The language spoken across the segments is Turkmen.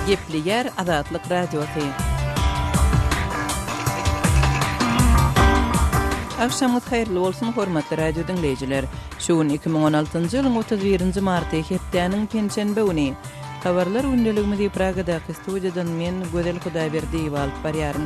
Gepleýär Azatlyk Radiosy. Agşamyňyz haýyrly bolsun, hormatly radio diňleýjiler. Şu gün iki müň on altynjy ýylyň otuz birinji marty, hepdäniň penşenbe güni. Habarlar gündeligimizi Pragadaky studiýadan men Gözel Hudaýberdiýewa alyp barýaryn.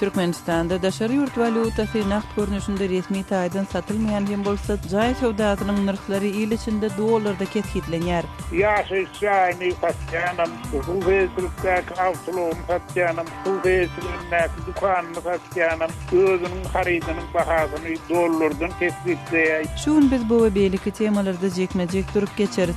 Türkmenistanda daşary ýurt walýutasy nagt görnüşinde resmi taýdan satylmaýan hem bolsa, jaý söwdasynyň nyrhlary il içinde dollarda kesgitlenýär. Ýaşaýyş jaýyny satýanam, suw hesligindäki awtoulagyny satýanam, suw hesligindäki dükanyny satýanam özüniň harydynyň bahasyny dollardan kesgitleýär. Şu gün biz bu we beýleki temalarda jekme-jek durup geçeris.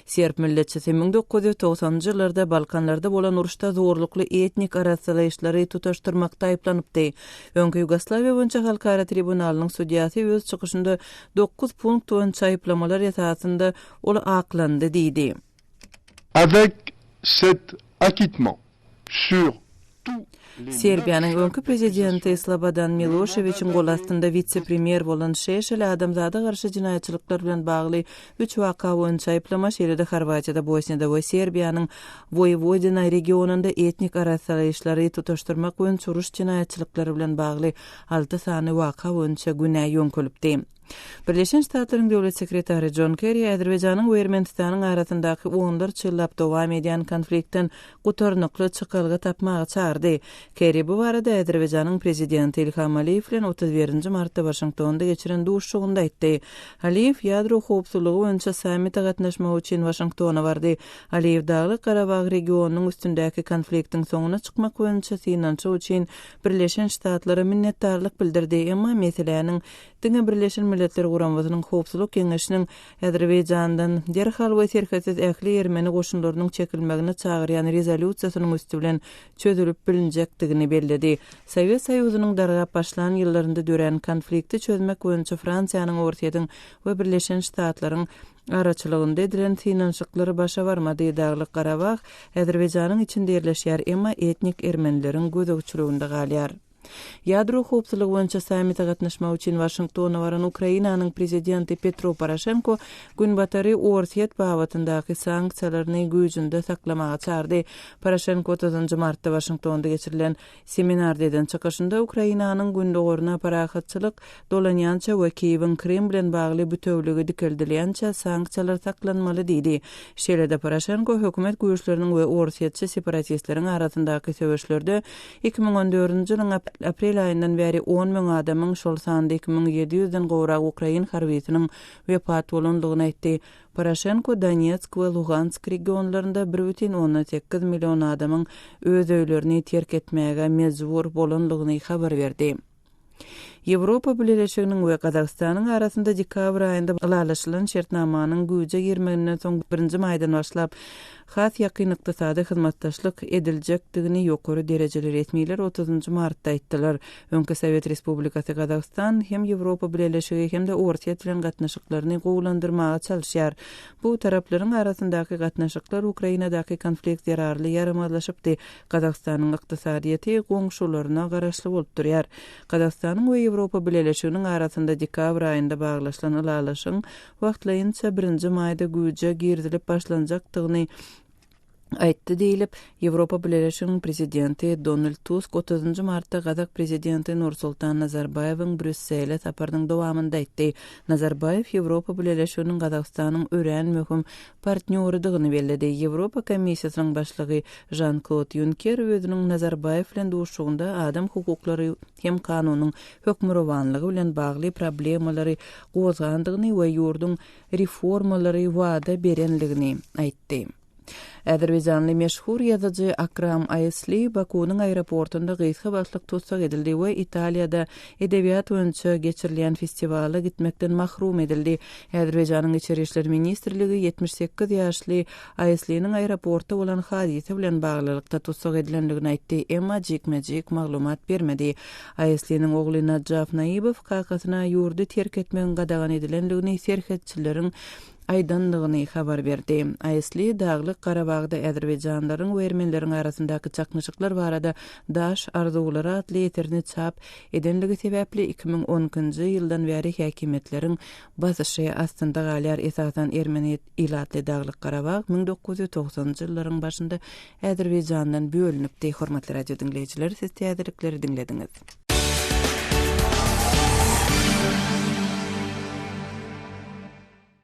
Serb milletçisi müň dokuz ýüz togsanynjy ýyllarda Balkanlarda bolan uruşda zorlukly etnik arassalaýyşlary tutaşdyrmakda aýyplanypdy. Öňki Ýugoslawiýa boýunça halkara tribunalynyň sudýasy öz çykyşynda dokuz punkt boýunça aýyplamalar esasynda ol aklandy diýdi. Avec cet acquittement, Serbiýanyň öňki prezidenti Slobodan Miloşewiçiň gol astynda wise-premýer bolan Şeşel adamzada garşy jenaýatçylyklar bilen bagly üç waka boýunça aýyplama, şeýle-de Horwatiýada, Bosniýada we Serbiýanyň Woýewodina regionynda etnik arassalaýyşlary tutaşdyrmak boýunça uruş jenaýatçylyklary bilen bagly alty sany waka boýunça günä ýöňkelipdi. Birleşen Ştatlaryň Döwlet sekretary Jon Kerri Azerbaýjanyň we Ermenistanyň arasyndaky onlarça ýyllap dowam edýän konfliktden gutarnykly çykalga tapmaga çagyrdy. Kerri bu barada Azerbaýjanyň prezidenti Ilham Aliýew bilen otuz birinji martda Waşingtonda geçiren duşuşygynda aýtdy. Aliýew ýadro howpsuzlygy boýunça sammite gatnaşmak üçin Waşingtona bardy. Aliýew Daglyk Garabag regionynyň üstündäki konfliktiň soňuna çykmak boýunça synanyşyk üçin Birleşen Ştatlara minnetdarlyk bildirdi, emma meseläniň Diňe Birleşen Milletler Guramasynyň Howpsuzlyk Geňeşiniň Azerbaýjandan derhal we serhetsiz ähli ermeni goşunlarynyň çekilmegine çagyrýan rezolýusiýasynyň üsti bilen çözülip bilinjekdigini belledi. Sowet Soýuzynyň dargap başlan ýyllarynda dörän konflikti çözmek boýunça Fransiýanyň, Orsýetiň we Birleşen Ştatlaryň araçylygynda edilen synanyşyklar başa barmady. Daglyk Garabag Azerbaýjanyň içinde ýerleşýär, emma etnik ermenileriň gözegçiliginde galýar. Ýadro howpsuzlygy boýunça sammite gatnaşmak üçin Waşingtona baran Ukrainanyň prezidenti Petro Poroşenko Günbatary Orsýet babatyndaky sanksiýalaryny güýjünde saklamaga çardy. Poroşenko otuzynjy martda Waşingtonda geçirilen seminarda eden çykyşynda Ukrainanyň gündogaryna parahatçylyk dolanýança we Kiýewiň Krym bilen bagly bütewligi dikeldilýänçä sanksiýalar saklanmaly diýdi. Şeýle-de Poroşenko hökümet güýçleriniň we orsýetçi separatistleriň arasyndaky söweşlerde Iki müň on dördünji ýylyň aprel aýyndan bäri on müň adamyň, şol sanda iki müň ýedi ýüzden gowrak ukrain harbysynyň wepat bolandygyny aýtdy. Poroşenko Donetsk we Lugansk regionlarynda bir bütin ondan sekiz million adamyň öz öýlerini terk etmäge mejbur bolandygyny habar berdi. Ýewropa Bileleşiginiň we Gazagystanyň arasynda dekabr aýynda ylalaşylan şertnamanyň güýje girmeginden soň birinji maýdan başlap has ýakyn ykdysady hyzmatdaşlyk ediljekdigini ýokary derejeli resmiler otuzynjy martda aýtdylar. Öňki Sowet Respublikasy Gazagystan hem Ýewropa Bileleşigi hem-de Orsýet bilen gatnaşyklaryny gowulandyrmaga çalyşýar. Bu taraplaryň arasyndaky gatnaşyklar Ukrainadaky konflikt zerarly ýaramazlaşypdy, Gazagystanyň ykdysadyýeti goňşularyna garaşly bolup durýar. Gazagystanyň we Ýewropa Bileleşiginiň arasynda dekabr aýynda baglaşylan ylalaşygyň wagtlaýynça birinji maýda güýje girizilip başlanjakdygyny aýtdy diýlip, Ýewropa Bileleşiginiň prezidenti Donald Tusk otuzynjy martda gazak prezidenti Nursultan Nazarbaýewiň Brýussele saparynyň dowamynda aýtdy. Nazarbaýew Ýewropa Bileleşiginiň Gazagystanyň örän möhüm partnýorydygyny belledi. Ýewropa Komissiýasynyň başlygy Žan-Klod Ýunker özüniň Nazarbaýew bilen duşuşygynda adam hukuklary hem kanunyň hökmürowanlygy bilen bagly problemalary gozgandygyny we ýurduň reformalary wada berenligini aýtdy. Azerbaýjanly meşhur ýazyjy Akram Aýsli Bakunyň aeroportynda gysga wagtlyk tussag edildi we Italiýada edebiýat boýunça geçirilýän festiwala gitmekden mahrum edildi. Azerbaýjanyň Içeri işler ministrligi ýetmiş sekiz ýaşly Aýsliniň aeroportda bolan hadysa bilen baglylykda tussag edilendigini aýtdy, emma jikme-jik maglumat bermedi. Aýsliniň ogly Najaf Naýybow kakasyna ýurdy terk etmegiň gadagan edilendigini serhetçileriň aýdandygyny habar berdi. Aýsli Daglyk Garabagda azerbaýjanlylaryň we ermenileriň arasyndaky çaknyşyklar barada Daş arzuwlary atly eserini çap edenligi sebäpli iki müň on ikinji ýyldan bäri häkimiýetleriň basyşy astynda galýar, esasan ermeni ilatly Daglyk Garabag müň dokuz ýüz togsanynjy ýyllaryň başynda Azerbaýjandan bölünipdi. Hormatly radio diňleýjiler siz täzelikleri diňlediňiz.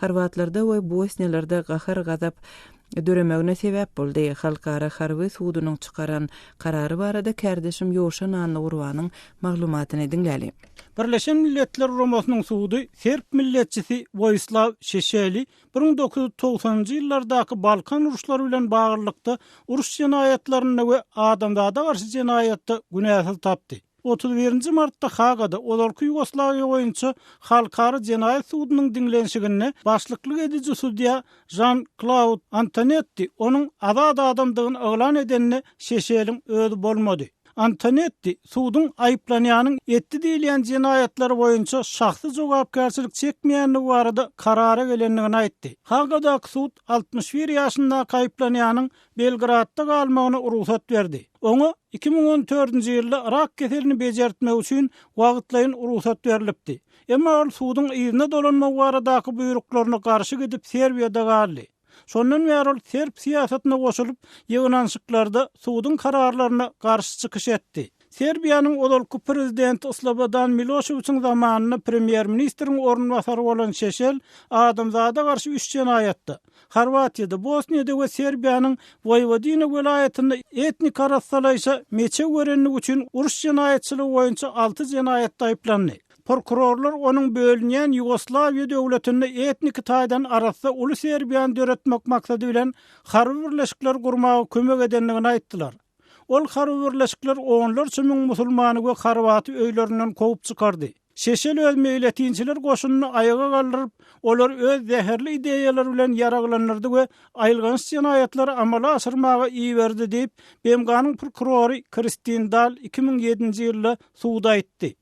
Horwatlarda we bosniýalarda gahar-gazap döremegine sebäp boldy. Halkara harby sudunyň çykaran karary barada kärdeşim Ýowşa Nanlygurbanyň maglumatyny diňläliň. Birleşen Milletler Guramasynyň sudy serb milletçisi Woýislaw Şeşeli bir müň dokuz ýüz togsanynjy ýyllardaky Balkan uruşlary bilen baglylykda uruş jenaýatlarynda we adamzada garşy jenaýatda günäsiz tapdy. Otuz birinji martda Hagada ozalky Ýugoslawiýa boýunça Halkara jenaýat sudunyň diňlenişiginde başlyklyk ediji sudýa Žan-Klaud Antonetti onuň azat adamdygyny yglan edende Şeşeliň özi bolmady. Antonetti suduň aýyplanýanyň etdi diýilýän jenaýatlary boýunça şahsy jogapkärçilik çekmeýändigi barada karara gelendigini aýtdy. Hagadaky sud altmyş bir ýaşyndaky aýyplanýanyň Belgradda galmagyna rugsat berdi. Oňa iki müň on dördünji ýylda rak keselini bejertmek üçin wagtlaýyn rugsat berlipdi. Emma ol suduň yzyna dolanmagy baradaky buýruklaryna garşy gidip Serbiýada galdy. Şondan bäri ol serb syýasatyna goşulyp, ýygnanyşyklarda suduň kararlaryna garşy çykyş etdi. Serbiýanyň ozalky prezidenti Slobodan Miloşewiçiň zamanynda premýer-ministriň orunbasary bolan Şeşel adamzada garşy üç jenaýatda, Horwatiýada, Bosniýada we Serbiýanyň Woýwodina welaýatynda etnik arassalaýşa meçew berendigi üçin uruş jenaýatçylygy boýunça alty jenaýatda aýyplandy. Prokurorlar onuň bölünýän Ýugoslawiýa döwletinde etniki taýdan arassa uly Serbiýany döretmek maksady bilen harby birleşikler gurmaga kömek edendigini aýtdylar. Ol harby birleşikler onlarça müň musulmany we horwaty öýlerinden kowup çykardy. Şeşel öz meýletinçiler goşunyny aýaga galdyryp, olary öz zäherli ideýalary bilen ýaraglandyrdy we aýylganç jenaýatlary amala aşyrmaga iberdi diýip, BMG-niň prokurory Kristin Dal iki müň ýedinji ýylda suda aýtdy.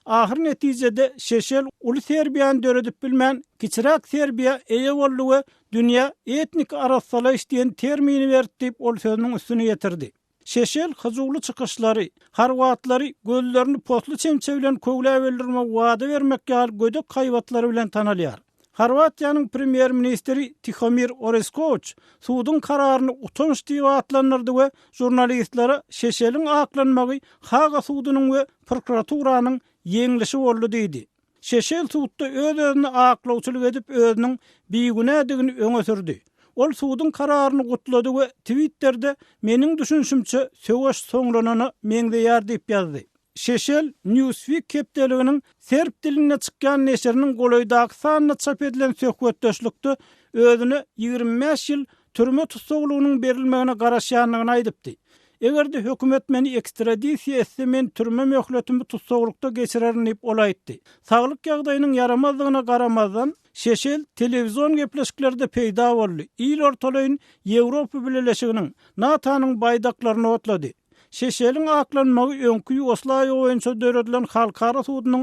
Ahyr netijede Şeşel uly Serbiýany döredip bilmän, kiçiräk Serbiýa eýe boldy we dünýä etniki arassalaýyş diýen termini berdi diýip ol sözüniň üstüni ýetirdi. Şeşel hyjuwly çykyşlary, horwatlary gözlerini posly çemçe bilen köwläp öldürmek wada bermek ýaly gödek haýbatlary bilen tanalýar. Horwatiýanyň premýer-ministri Tihomir Oreskowiç suduň kararyny utanç diýip atlandyrdy we žurnalistlere Şeşeliň aklanmagy Haga sudunyň we prokuraturanyň ýeňlişi boldy diýdi. Şeşel sudda öz-özüne aklawçylyk edip özüniň bigünädigini öňe sürdi. Ol suduň kararyny gutlady we Twitterde Meniň düşünişimçe söweş soňlanana meňzeýär diýip ýazdy. Şeşel Newsweek hepdeliginiň serb dilinde çykýan neşiriniň golaýdaky sanynda çap edilen söhbetdeşlikde özüne ýigrimi bäş ýyl türme tussaglygynyň berilmegine garaşýandygyny aýdypdy. Eger-de hökümet meni ekstradisiýa etse, men türme möhletimi tussaglykda geçirerin diýip, ol aýtdy. Saglyk ýagdaýynyň ýaramazdygyna garamazdan, Şeşel telewizon gepleşiklerde peýda boldy, il ortalaýyn Ýewropa Bileleşiginiň, NATO-nyň baýdaklaryny otlady. Şeşeliň aklanmagy öňki Ýugoslawiýa boýunça döredilen halkara sudunyň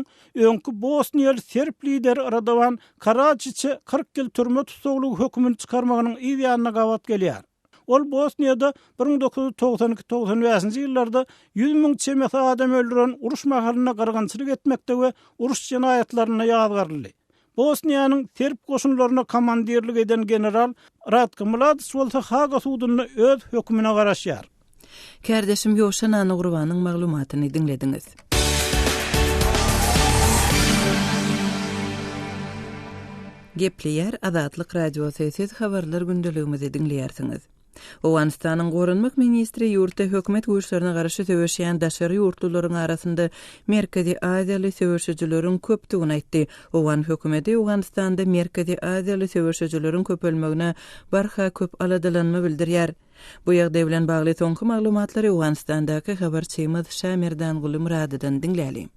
öňki bosniýaly serb lideri Radowan Karadžiçe kyrk ýyl türme tussaglygy hökümini çykarmagynyň yz ýanyna gabat gelýär. Ol Bosniýada bir müň dokuz ýüz togsan iki, togsan bäşinji ýyllarda ýüz müň çemesi adam öldüren uruş mahalynda gyrgynçylyk etmekde we uruş jenaýatlarynda ýazgaryldy. Bosniýanyň serb goşunlaryna komandirlik eden general Ratko Mladiç bolsa Haga sudunda öz hökümine garaşýar. Kärdeşim Ýoşa Nanugrowanyň maglumatyny diňlediňiz. Gepleýär Azatlyk Radiosy, Siz habarlar gündeligimizi diňleýärsiňiz. Owganystanyň Goranmak ministri ýurtda hökümet güýçlerine garşy söweşýän daşary ýurtlularyň arasynda Merkezi Aziýaly söweşijileriň köpdügini aýtdy. Owgan hökümeti Owganystanda Merkezi Aziýaly söweşijileriň köpelmegine barha köp aladalanma bildirýär. Bu ýagdaý bilen bagly soňky maglumatlary Owganystandaky habarçymyz Şamerdanguly Myradydan diňläli.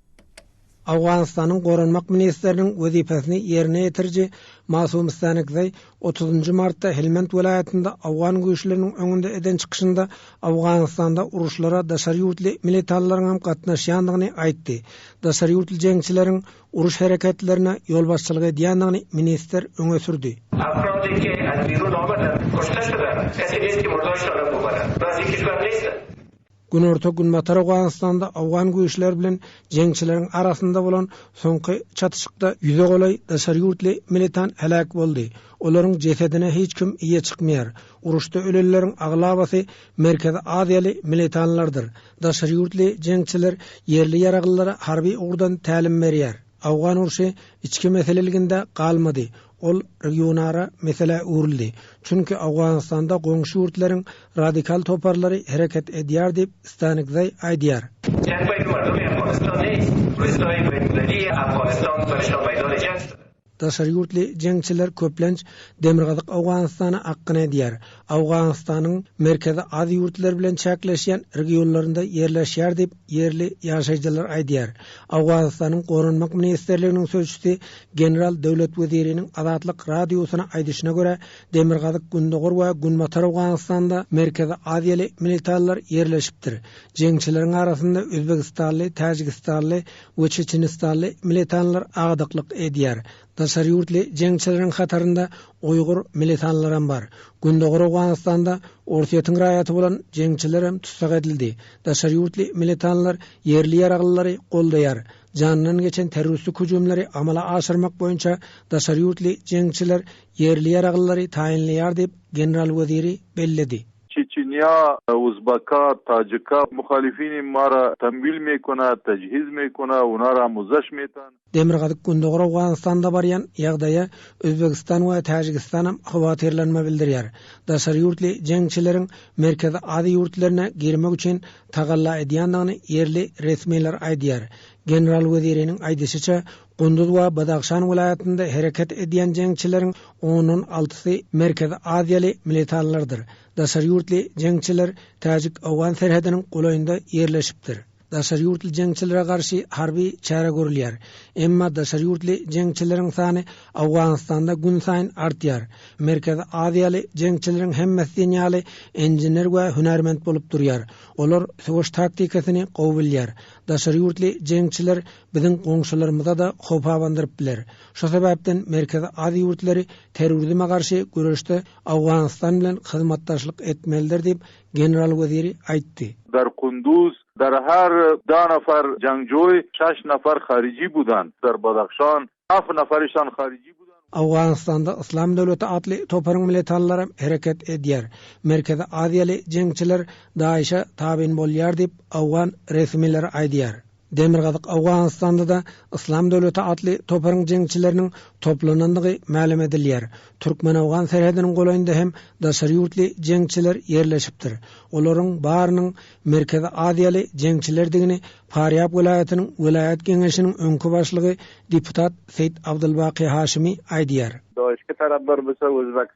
Owganystanyň Goranmak ministriniň wezipesini ýerine ýetiriji Masum Stanekzaý otuzynjy martda Helmand welaýatynda owgan güýçleriniň öňünde eden çykyşynda Owganystanda uruşlara daşary ýurtly militalylaryň hem gatnaşýandygyny aýtdy. Daşary ýurtly jeňçileriň uruş hereketlerine ýolbaşçylyk edýändigini ministr öňe sürdi. Günorta-günbatar Owganystanda owgan güýçleri bilen jeňçileriň arasynda bolan soňky çatyşykda ýüze golaý daşary ýurtly militant heläk boldy. Olaryň jesedine hiç kim eýe çykmaýar. Uruşda ölenleriň aglabasy Merkezi Aziýaly militanlardyr. Daşary ýurtly jeňçiler ýerli ýaraglylara harby ugurdan tälim berýär. Awgan urşy içki meseleliginde galmady, ol regionara meselä öwrüldi. Çünki Awganystanda goňşy ýurtlaryň radikal toparlary hereket edýär diýip, Stanikzaý aýdýar. Daşary ýurtly jeňçiler köplenç Demirgazyk Awganystana akgyn edýär. Owganystanyň Merkezi Aziýa ýurtlary bilen çäkleşýän regionlarynda ýerleşýär diýip, ýerli ýaşaýjylar aýdýar. Owganystanyň Goranmak ministrliginiň sözçüsi general döwlet weziriniň Azatlyk Radiosyna aýdyşyna görä, demirgazyk-gündogar we günbatar Owganystanda merkezi aziýaly militalylar ýerleşipdir. Jeňçileriň arasynda özbegistanly, täjigistanly we çeçenistanly militalylar agadaklyk edýär. Daşary ýurtly jeňçileriň hatarynda uýgur militanlaram bar. Gündogar Owganystanda Orsýetiň raýaty bolan jeňçilerem tussag edildi. Daşary ýurtly militanlar ýerli ýaraglylary goldaýar. Janyndan geçen terroristlik hüjümleri amala aşyrmak boýunça daşary ýurtly jeňçiler ýerli ýaraglylary taýynlaýar diýip, general weziri belledi. Çeçenýa, Uzbaka, Tajika, Muhalifini mara, Tamwil mekona, Tajhiz mekona, Unara muzzaş metan. Demirgazyk-Gündogar Owganystanda barýan ýagdaýa Özbegistan we Täjigistanam howatyrlanma bildirýär. Daşary ýurtly jeňçileriň Merkezi Aziýa ýurtlaryna girmek üçin tagalla edýändigini ýerli resmiler aýdýar. General weziriniň aýdyşyça, Gunduz we Badahşan welaýatynda hereket edýän jeňçileriň ondan altysy merkezi aziýaly militanlardyr. Daşary ýurtly jeňçiler täjik-owgan serhediniň golaýynda ýerleşipdir. Daşary ýurtly jeňçilere garşy harby çäre görülýär. Emma daşary ýurtly jeňçileriň sany Owganystanda günsaýyn artýar. Merkezi aziýaly jeňçileriň hemmesi diýen ýaly inžener we hünärment bolup durýar. Olar söweş taktikasyny gowy bilýär. Daşary ýurtly jeňçiler biziň goňşularymyza-da howp abandyryp biler. Şu sebäpden Merkezi Aziýa ýurtlary terrorizme garşy göreşde Owganystan bilen hyzmatdaşlyk etmelidir diýip, general weziri aýtdy. Dar Kunduz, Dar Har, Da Nafar Jangjoý, Şaş Nafar Harici Budan, Dar Badahşan, Af Nafari Şan Harici Budan we. Owganystanda Yslam döwleti atly toparyň militanlaram hereket edýär. Merkezi aziýaly jeňçiler DAIŞ-e tabyn bolýar diýip, owgan resmileri aýdýar. Demirgazyk Owganystanda-da Yslam döwleti atly toparyň jeňçileriniň toplanandygy mälim edilýär. Türkmen-owgan serhediniň golaýynda hem daşary ýurtly jeňçiler ýerleşipdir. Olaryň barynyň Merkezi Aziýaly jeňçilerdigini Parýab welaýatynyň welaýat geňeşiniň öňki başlygy deputat Seýit Abdylbaky Haşimi aýdýar. Doly iki taraplar bu söwüzbek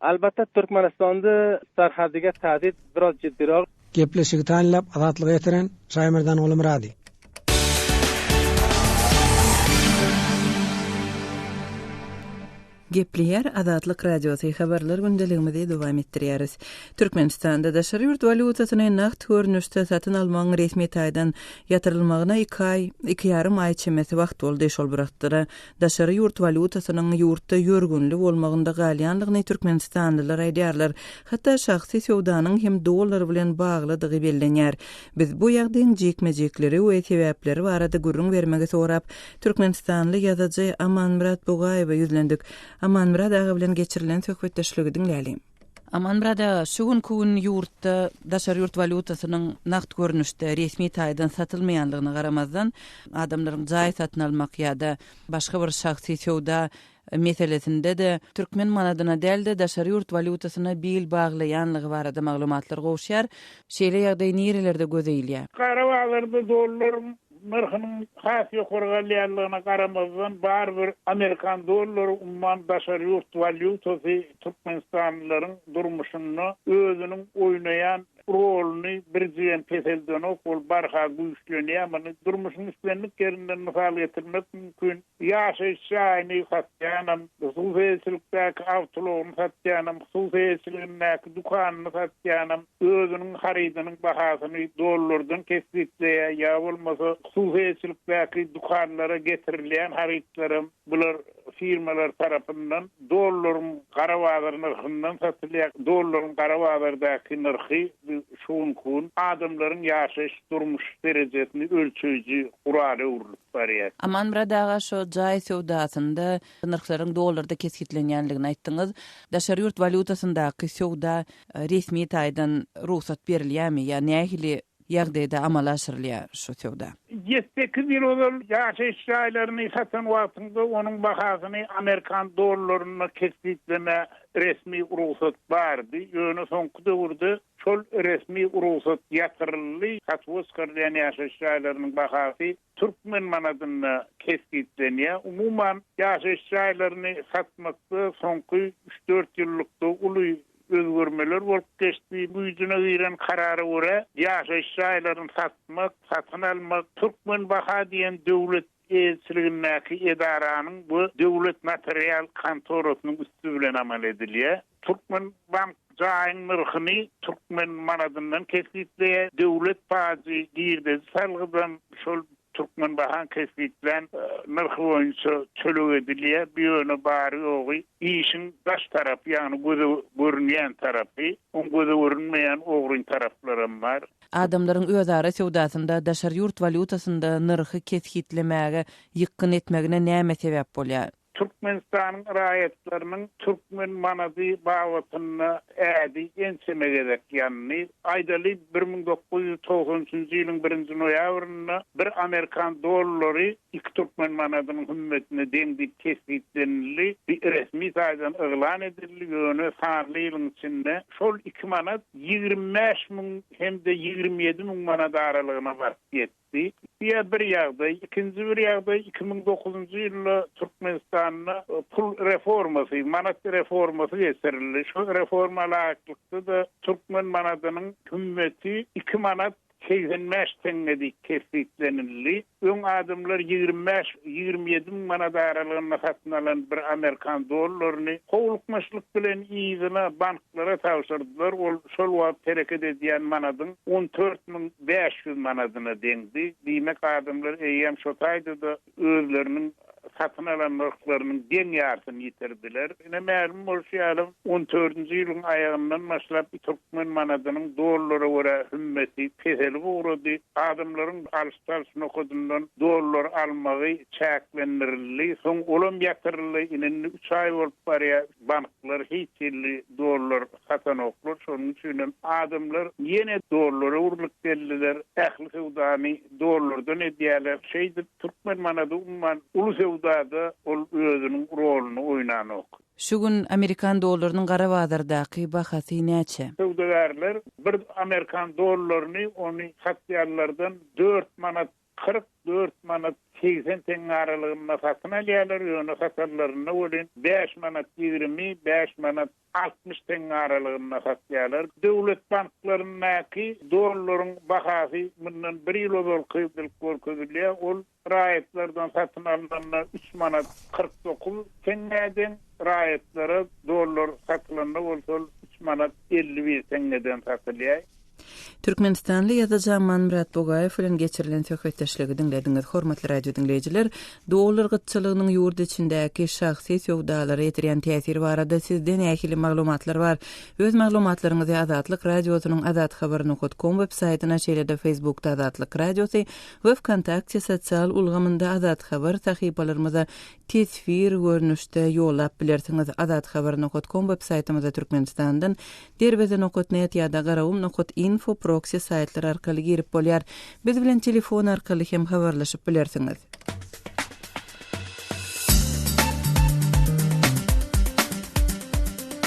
Albatta Türkmenistanda sarhadyga tazyt biraz jiddirogl. Gepleşigi taýynlap azatlyga ýetiren Şaýmerdan Gulumyrady. Gepleýär Azatlyk Radiosy, Habarlar gündeligimizi dowam etdirýäris. Türkmenistanda daşary ýurt walýutasyny nagt görnüşde satyn almagyň resmi taýdan ýatyrylmagyna iki aý, iki ýarym aý çemesi wagt boldy. Şol bir wagtda-da, Daşary ýurt walýutasynyň ýurtda ýörgünli bolmagynda galýandygyny türkmenistanlylar aýdýarlar. Hatda şahsy söwdanyň hem dollar bilen baglydygy bellenýär. Biz bu ýagdaýyň jikme-jikleri we sebäpleri barada gürrüň bermegi sorap, türkmenistanly ýazyjy Amanmyrat Bugaýewe ýüzlendik. Amanmyrat aga bilen geçirilen söhbetdeşligi diňläli. Amanmyrat aga, şu günki gün ýurtda daşary ýurt walýutasynyň nagt görnüşde, resmi taýdan satylmaýanlygyna garamazdan, adamlaryň jaý satyn almak ýa-da başga bir şahsy söwda meselesinde-de türkmen manadyna däl-de, daşary ýurt walýutasyna bil baglaýanlygy barada maglumatlar gowuşýar. Şeýle ýagdaý nirelerde göze ilýär? Garabaglarda dollar Nyrhynyň has ýokary galýanlygyna garamazdan, barybir amerikan dollary umman daşary ýurt walýutasy türkmenistanlylaryň durmuşynda özüniň oýnaýan roluny birjigem peseldenok, ol barha güýçlenýär. Muny durmuşyň islendik ýerinden mysal getirmek mümkin. Ýaşaýyş jaýyny satýanam, hususy eýeçilikdäki awtoulagyny satýanam, hususy eýeçiligindäki dükanyny satýanam, özüniň harydynyň bahasyny dollardan kesgitleýär ýa bolmasa hususy eýeçilikdäki dükanlara getirilýän harytlaram bular firmalar tarapyndan dollaryň gara bazar nyrhyndan satylýar. Dollaryň gara bazardaky nyrhy bu şu günki gün adamlaryň ýaşaýyş durmuş derejesini ölçeýji gurala öwrülip barýar. Amanmyrat aga şo jaý söwdasynda Nyrhlaryň dollarda kesgitlenýändigini aýtdyňyz. Daşary ýurt walýutasyndaky söwda resmi taýdan rugsat berilýärmi ýa nähili ýagdaýda amala aşyrylýar şu söwda? Ýedi sekiz ýyl ozal ýaşaýyş jaýlaryny satan wagtyňda onuň bahasyny amerikan dollarynda kesgitleme resmi rugsat bardy. Ýöne soňky döwürde şol resmi rugsat ýatyryldy. Satuw-oskar diýen ýaşaýyş jaýlarynyň bahasy türkmen manadynda kesgitlenýär. Umuman, ýaşaýyş jaýlaryny satmakda soňky üç-dört ýyllykda uly özgermeler bolup geçdi. Güýjüne giren karara görä, ýaşaýyş jaýlaryny satmak, satyn almak Türkmenbaha diýen döwlet eýeçiligindäki edaranyň we döwlet notarial kontorasynyň üsti bilen amal edilýär. Türkmenbank jaýyň nyrhyny türkmen manadyndan kesgitleýär, döwlet pajy girdeji salgydan şol Türkmenbahaň kesgitlän nyrhy boýunça töleg edilýär, bu ýöne bary-ýogy işiň daş tarapy, ýagny göze görünýän tarapy, oň göze görünmeýän ogryn taraplaram bar. Adamlaryň özara söwdasynda daşary ýurt walýutasynda nyrhy kesgitlemäge ýykgyn etmegine näme sebäp bolýar? Türkmenistanyň raýatlarynyň türkmen manady babatynda ädi ençeme gezek ýandy. Aýdaly, bir müň dokuz ýüz togsan üçünji ýylyň birinji noýabrynda bir amerikan dollary iki türkmen manadynyň hümmetine deň diýip kesgitlenildi, bi resmi taýdan yglan edildi, ýöne sanly ýylyň içinde şol iki manat ýigrimi bäş müň hem-de ýigrimi ýedi müň manat aralygyna baryp ýetdi. Diýip, bu ýa bir ýagdaý, ikinji bir ýagdaý, iki müň dokuzynjy ýylda Türkmenistanda pul reformasy, manat reformasy geçirildi. Şu reforma laýyklykda-da türkmen manadynyň hümmeti iki manat segsen bäş teňňe diýip kesgitlenildi. Öň adamlar ýigrimi bäş, ýigrimi ýedi müň manat aralygynda satyn alan bir amerikan dollaryny howlukmaçlyk bilen yzyna bank Lara tabşyrdylar. Ol şol wagt hereket edýän manadyň on dört müň bäş ýüz manadyna deňdi. Diýmek, adamlar eýýäm şo taýda-da özleriniň satyn alan nyrhlarynyň deň ýarsyny ýitirdiler. Ine, mälim bolşy ýaly, on dördünji ýylyň aýagyndan başlap türkmen manadynyň dollara görä hümmeti peselip ugrady. Adamlaryň alyş-çalyş nokadyndan dollar almagy çäklendirildi. Soň olam ýatyryldy. Ine, indi üç aý bolup barýar. Banklar hiç hilli dollar satanoklar, şonuň üçinem adamlar ýene dollara urlup geldiler, ähli söwdany dollardan edýärler. Şeýdip, türkmen manady umuman uly söwdada ol özüniň roluny oýnanok. Şu gün amerikan dollarynyň gara bazardaky bahasy näçe? Söwdagärler bir amerikan dollaryny ony satýanlardan dört manat kyrk dört manat segsen teňňe aralygynda satyn alýarlar, ýöne satarlarynda welin bäş manat ýigrimi, bäş manat altmyş teňňe aralygynda satýarlar. Döwlet banklaryndaky dollaryň bahasy mundan bir ýyl ozalky bilip görkezilýär, ol raýatlardan satyn alnanda üç manat kyrk dokuz teňňä deň, raýatlara dollar satylanda bolsa ol üç manat elli bir teňňeden satylýar. Türkmenistanly ýazyjy Amanmyrat Bugaýew bilen geçirilen söhbetdeşligi diňlediňiz. Hormatly radio diňleýjiler, dollar gytçylygynyň ýurt içindäki şahsy söwdalara ýetirýän täsiri barada sizde nähili maglumatlar bar? Öz maglumatlaryňyzy Azatlyk Radiosynyň Azat Habar nokat kom web saýtyna şeýle-de Facebookda Azatlyk Radiosy we Wkontakte sosial ulgamynda Azat Habar sahypalarymyza teswir görnüşde ýollap bilersiňiz. Azat Habar nokat kom web saýtymyzda Türkmenistandan Derweze nokat net ýa-da garawun nokat info proksi saýtlary arkaly girip bolýar. Biz bilen telefon arkaly hem habarlaşyp bilersiňiz.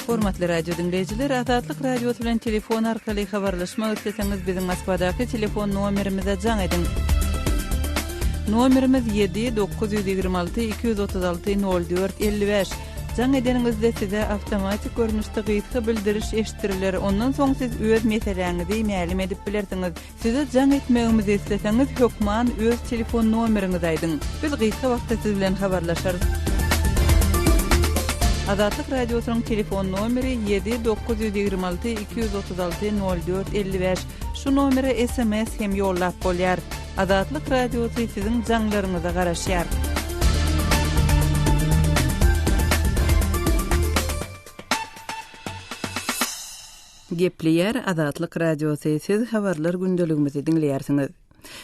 Hormatly radio diňleýjiler, Azatlyk radiosy bilen telefon arkaly habarlaşmak isleseňiz, biziň Moskwadaky telefon nomerimize jaň ediň. Nomerimiz 7 926 236 04 55. Jaň edeniňizde size awtomatik görnüşde gysga bildiriş eşitdiriler, ondan soň siz öz meseläňizi mälim edip bilersiňiz. Size jaň etmegimizi isleseňiz, hökman öz telefon nomeriňizi aýdyň. Biz gysga wagtda siz bilen habarlaşarys. Azatlyk Radiosynyň telefon nomeri ýedi dokuz ýüz ýigrimi alty iki ýüz otuz alty nol dört elli bäş. Şu nomere sms hem ýollap bolýar. Azatlyk Radiosy siziň jaňlaryňyza garaşýar. Gepleýär Azatlyk Radiosy. Siz habarlar gündeligimizi diňleýärsiňiz.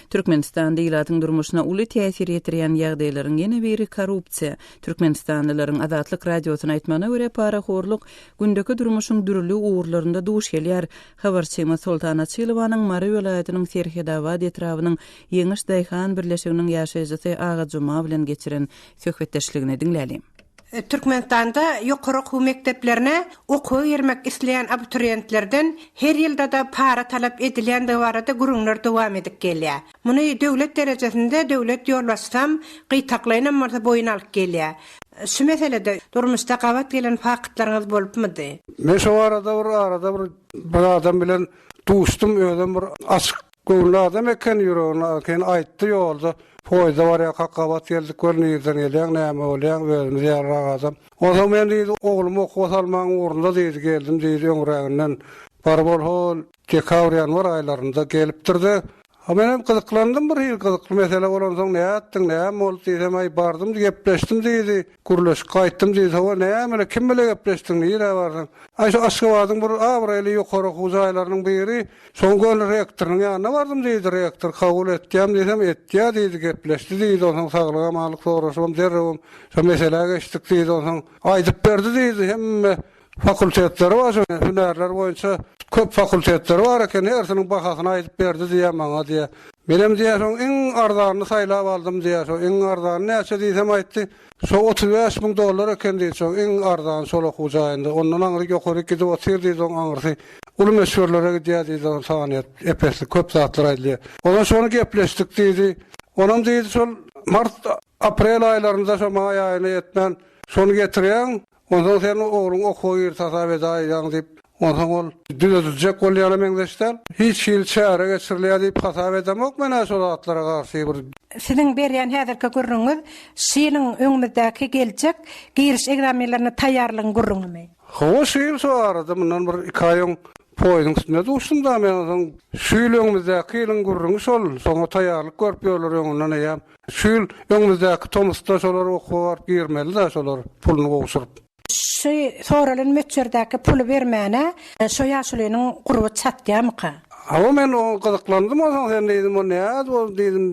Türkmenistanda ilatyň durmuşyna uly täsir ýetirýän ýagdaýlaryň ýene biri korrupsiýa. Türkmenistanlylaryň Azatlyk Radiosyna aýtmagyna görä, parahorluk gündeki durmuşyň dürli ugurlarynda duş gelýär. Habarçymyz Soltan Açylowanyň Mary welaýatynyň Serhedabad etrabynyň Ýeňiş daýhan birleşiginiň ýaşaýjysy Aga Juma bilen geçiren söhbetdeşligini diňläliň. Türkmenistanda ýokary okuw mekdeplerine okuwa girmek isleýän abituriýentlerden her ýylda-da para talap edilýändigi barada gürrüňler dowam edip gelýär. Muny döwlet derejesinde döwlet ýolbaşçysam, gytaklaýynam bolsa boýun alyp gelýär. Şu meselede durmuşda gabat gelen faktlaryňyz bolupmydy? Men şo arada bir arada bir bir adam bilen duşdum, özem bir açyk göwünli adam eken, ýüregini akeýin aýtdy, ýolda poýizda barýarkak gabat geldik, gör nirden gelýäň, näme bolýaň, özümiz ýalyrak adam. Onsoň men diýdi, oglumy okuwa salmagyň ugrunda diýdi, geldim diýdi, öňräginden baryp ol hol Dekabr-ýanwar aýlarynda gelipdir-de, menem gyzyklandym bir hili, gyzykly mesele bolansoň, nätdiň, näme boldy diýsem, äý, bardym-da gepleşdim diýdi, gürleşip gaýtdym diýdi, hawa, näme-le, kim bile gepleşdiň, nirä bardyň? Äý, şu Aşgabadyň bir abraýly ýokary okuw jaýlarynyň biri, şoň göni rektorynyň ýanyna bardym diýdi, rektor kabul etýämi diýsem, etýä diýdi, gepleşdi diýdi, onsoň saglyk-amanlyk soraşybam, derrewem şo meselä geçdik diýdi, onsoň aýdyp berdi diýdi, hemme Fakultetleri bar şoň hünärler boýunça köp fakultetleri bar eken hersiniň bahasyny aýdyp berdi diýýä maňa diýýä. Menem diýýä şoň iň arzanyny saýlap aldym diýýä şo iň arzany näçe diýsem aýtdy şo otuz bäş müň dollar eken diýdi şoň iň arzany şol okuw jaýynda ondan aňry ýokaryk gidip otyr diýdi oň aňrysy uly meşhurlara gidýä diýdi oň sanyýet epesli köp zatlar aýdylýa ondan şony gepleşdik diýdi onam diýdi şol mart Aprel aýlarynda şo maý aýyna ýetmän, şony getirýäň, onsoň sen ogluň okuwa girt hasap edäýýäň diýip, onsoň ol düzediljek bolýana meňzeş däl. Hiç hili çäre geçirilýär diýip hasap edemok men-ä şo zatlara garşy bir. Siziň berýän häzirki gürrüňiňiz şu ýylyň öňümizdäki geljek giriş egzaminlerine taýýarlygyň gürrüňimi? Hawa, şu ýyl şo arada mundan bir iki aý öň poýuzyň üstünde duşdum-da men, onsoň şu ýyl öňümizdäki ýylyň gürrüňi şol, şoňa taýýarlyk görüp ýörler öňünden eýýäm. Şu ýyl, öňümizdäki tomusda şolar okuwa baryp girmeli-de şolar puluny gowşuryp. Şu soralan möçberdäki puly bermäne şo ýaşulynyň gurby çatýamyka? Hawa men oňa gyzyklandym onsoň sen diýdim o näz bol diýdim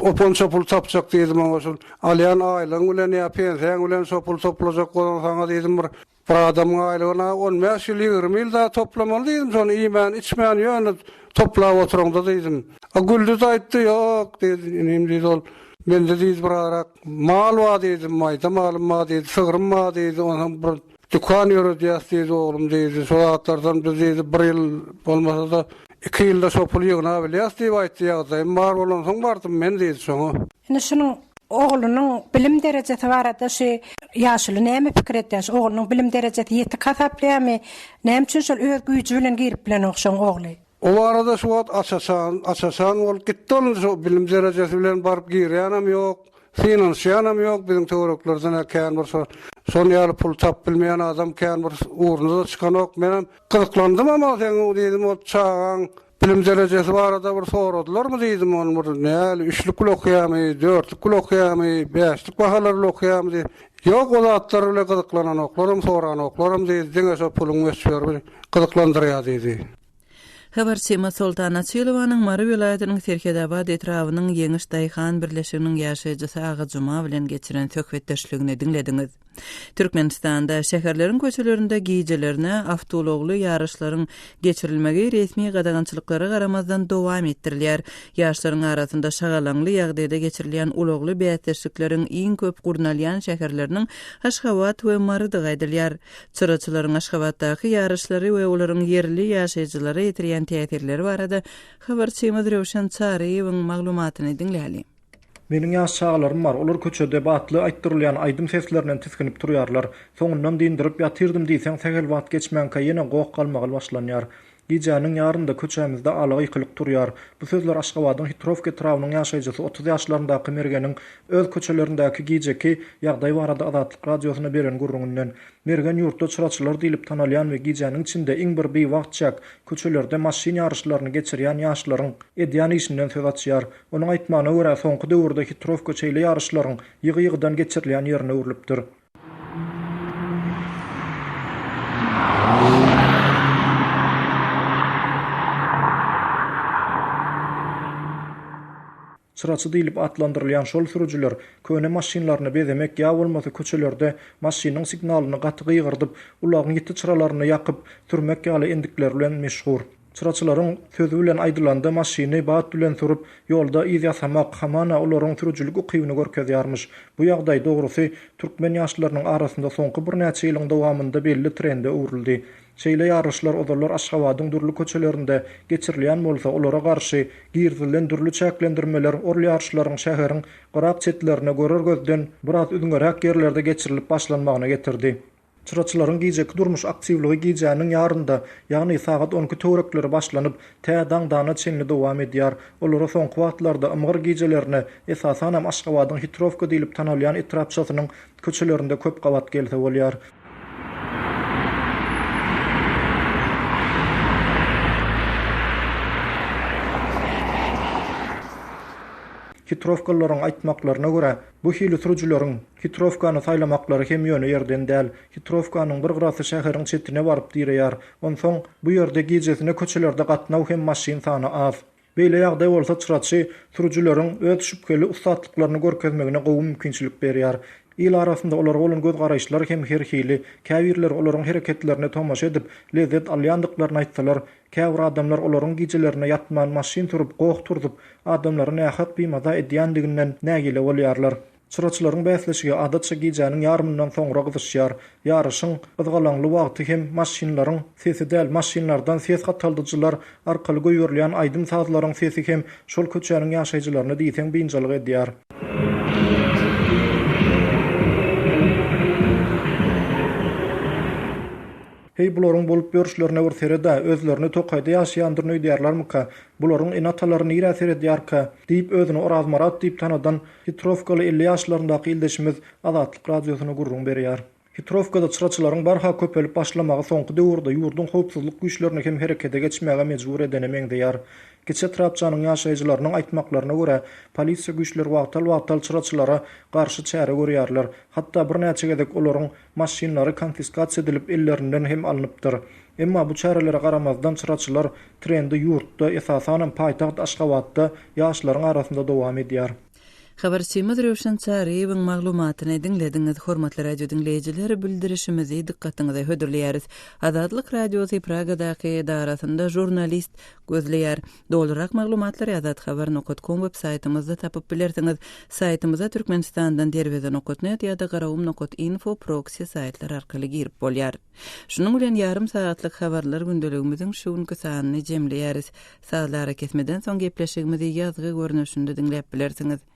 opan şo puly tapjak diýdim oňa şul alýan aýlygyň bilen ýa pensiýaň bilen şo puly toplajak bolan saňa diýdim bir Bir adamyň aýlygyna on bäş ýyl ýigrimi ýyl dagy toplamaly diýdim şony iýmän içmän ýöne toplap oturyňda diýdim. A güldi de aýtdy ýok diýdi inim diýdi ol mende diýdi bir arak mal bar diýdi maýda malym bar diýdi sygrym bar diýdi ony hem bir dükan ýöredýäs diýdi oglum diýdi şo zatlardan biz diýdi bir ýyl bolmasada iki ýylda şo puly ýygnabilýäs diýip aýtdy ýagdaýym bar bolansoň bardym men diýdi şoňa. Indi şunuň oglunyň bilim derejesi barada şu ýaşuly näme pikir edýär? Şu oglunyň bilim derejesi ýetik hasaplaýarmy? Näme üçin şol öz güýji bilen girip bilenok şoň ogly? O barada şu wagt aç-açan, aç-açan bolup gitdi ol şo bilim derejesi bilen baryp girýänem ýok, synanyşýanam ýok biziň töwereklerden-ä kän bir şo şon ýaly pul tapyp bilmeýän adam kän bir ugruna-da çykanok. Menem gyzyklandymam-a seň diýdim ol çagaň Bilim derejesi barada bir soradylarmy diýdim, ony bir näli üçlük bilen okaýamy, dörtlük bilen okaýamy, bäşlik bahalar bilen okaýamy diýip. Ýok, o zatlar bilen gyzyklananoklaram, soranoklaram diýdi, diňe şo puluň möçberi gyzyklandyrýar diýdi. Habarçymyz Soltan Açylowanyň Mary welaýatynyň Serhedabad etrabynyň Ýeňiş daýhan birleşiginiň ýaşaýjysy Agajuma bilen geçiren söhbetdeşligini diňlediňiz. Türkmenistanda şäherleriň köçelerinde gijelerine awtoulagly ýaryşlaryň geçirilmegi resmi gadagançylyklara garamazdan dowam etdirilýär. Ýaşlaryň arasynda şagalaňly ýagdaýda geçirilýän ulagly bäsleşikleriň iň köp gurnalýan şäherleriniň Aşgabat we Marydygy aýdylýar. Çyraçylaryň Aşgabatdaky ýaryşlary we olaryň ýerli ýaşaýjylara ýetirýän täsirleri barada habarçymyz Röwşen Çaryýewiň maglumatyny diňläliň. Meniň ýaş çagalarym bar, olar köçede batly aýtdyrylýan aýdym seslerinden tisginip turýarlar. Soňundan dindirip ýatyrdym diýseň sähel wagt geçmänkä ýene goh-galmagal başlanýar. Gijäniň ýarynda köçämizde ala-gykylyk turýar. Bu sözler Aşgabadyň Hitrowka etrabynyň ýaşaýjysy otuz ýaşlaryndaky Mergeniň öz köçelerindäki gijeki ýagdaý barada Azatlyk Radiosyna beren gürrüňinden. Mergen ýurtda çyraçylar diýlip tanalýan we gijäniň içinde iň bir biwagt çäk köçelerde maşyn ýaryşlaryny geçirýän ýaşlaryň edýän işinden söz açýar. Onuň aýtmagyna görä, soňky döwürde hitrowka şeýle ýaryşlaryň ýygy-ýygydan geçirilýän ýerine öwrülipdir. Çyraçy diýlip atlandyrylýan şol sürüjiler köne maşynlaryny bezemek ýa bolmasa köçelerde maşynyň signalyny gaty gygyrdyp, ulagyň ýiti çyralaryny ýakyp, sürmek ýaly endikleri bilen meşhur. Çyraçylaryň sözi bilen aýdylanda maşyny bat bilen sürüp, ýolda yz ýasamak, hamana olaryň sürüjilik ukybyny görkezýärmiş. Bu ýagdaý, dogrusy, türkmen ýaşlarynyň arasynda soňky birnäçe ýylyň dowamynda belli trende öwrüldi. Şeýle ýaryşlar ozallar Aşgabadyň dürli köçelerinde geçirilýän bolsa, olara garşy girizilen dürli çäklendirmeler ol ýaryşlaryň şäheriň gyrak-çetlerine görer gözden biraz üzňeräk ýerlerde geçirilip başlanmagyna getirdi. Çyraçylaryň gijeki durmuş aktiwligi gijäniň ýarynda, ýagny sagat on iki töwerekleri başlanyp, tä daň dana çenli dowam edýär. Olara soňky wagtlarda ymgyr gijelerine, esasanam Aşgabadyň Hitrowka diýlip tanalýan etrapçasynyň köçelerinde köp gabat gelse bolýar. Hitrowkalylaryň aýtmaklaryna görä, bu hili sürüjileriň Hitrowkany saýlamaklary hem ýöne ýerden däl. Hitrowkanyň bir gyrasy şäheriň çetine baryp direýär. Onsoň, bu ýerde gijesine köçelerde gatnaw hem maşyn sany az. Beýle ýagdaý bolsa çyraçy sürüjileriň öz şübheli ussatlyklaryny görkezmegine gowy mümkinçilik berýär. Il arasynda olara bolan gözgaraýyşlar hem her hili. Käbirleri olaryň hereketlerine tomaşa edip, lezzet alýandyklaryny aýtsalar, käbir adamlar olaryň gijelerine ýatman maşyn sürüp, goh turzup, adamlary nähak bimaza edýändiginden nägile bolýarlar. Çyraçylaryň bäsleşigi adatça gijäniň ýarymyndan soňra gyzyşýar. Ýaryşyň gyzgalaňly wagty hem maşynlaryň sesi däl, maşynlardan ses gataldyjylar arkaly goýberilýän aýdym-sazlaryň sesi hem şol köçäniň ýaşaýjylaryny diýseň biynjalyk edýär. Heý, bularyň bolup ýörşlerine bir sered-ä, özlerini tokaýda ýaşaýandyryn öýdýärlermika? Bularyň ene-atalary nirä seredýärkä? diýip, özüni Orazmyrat diýip tanadan Hitrowkaly elli ýaşlaryndaky ildeşimiz Azatlyk Radiosyna gürrüň berýär. Hitrowkada çyraçylaryň barha köpelip başlamagy soňky döwürde ýurduň howpsuzlyk güýçlerini hem herekete geçmäge mejbur edene meňzeýär. Kiçi etrapçanyň ýaşaýjylarynyň aýtmaklaryna görä, polisiýa güýçleri wagtal-wagtal çyraçylara garşy çäre görýärler, hatda birnäçe gezek olaryň maşynlary konfiskasiýa edilip ellerinden hem alnypdyr. Emma bu çärelere garamazdan çyraçylar trendi ýurtda, esasanam paýtagt Aşgabatda ýaşlaryň arasynda dowam edýär. Habarçymyz Röwşen Çaryýewiň maglumatyny diňlediňiz. Hormatly radio diňleýjiler, bildirişimizi dykgatyňyza hödürleýäris. Azatlyk Radiosy Pragadaky edarasynda žurnalist gözleýär. Dolurak maglumatlary azathabar nokat kom web saýtymyzda tapyp bilersiňiz. Saýtymyza Türkmenistandan derweze nokat net ýa-da garawum nokat info proksi saýtlar arkaly girip bolýar. Şunuň bilen ýarym sagatlyk habarlar gündeligimiziň şu günki sanyny jemleýäris. Sazly arakesmeden soň gepleşigimizi ýazgy görnüşinde diňläp bilersiňiz.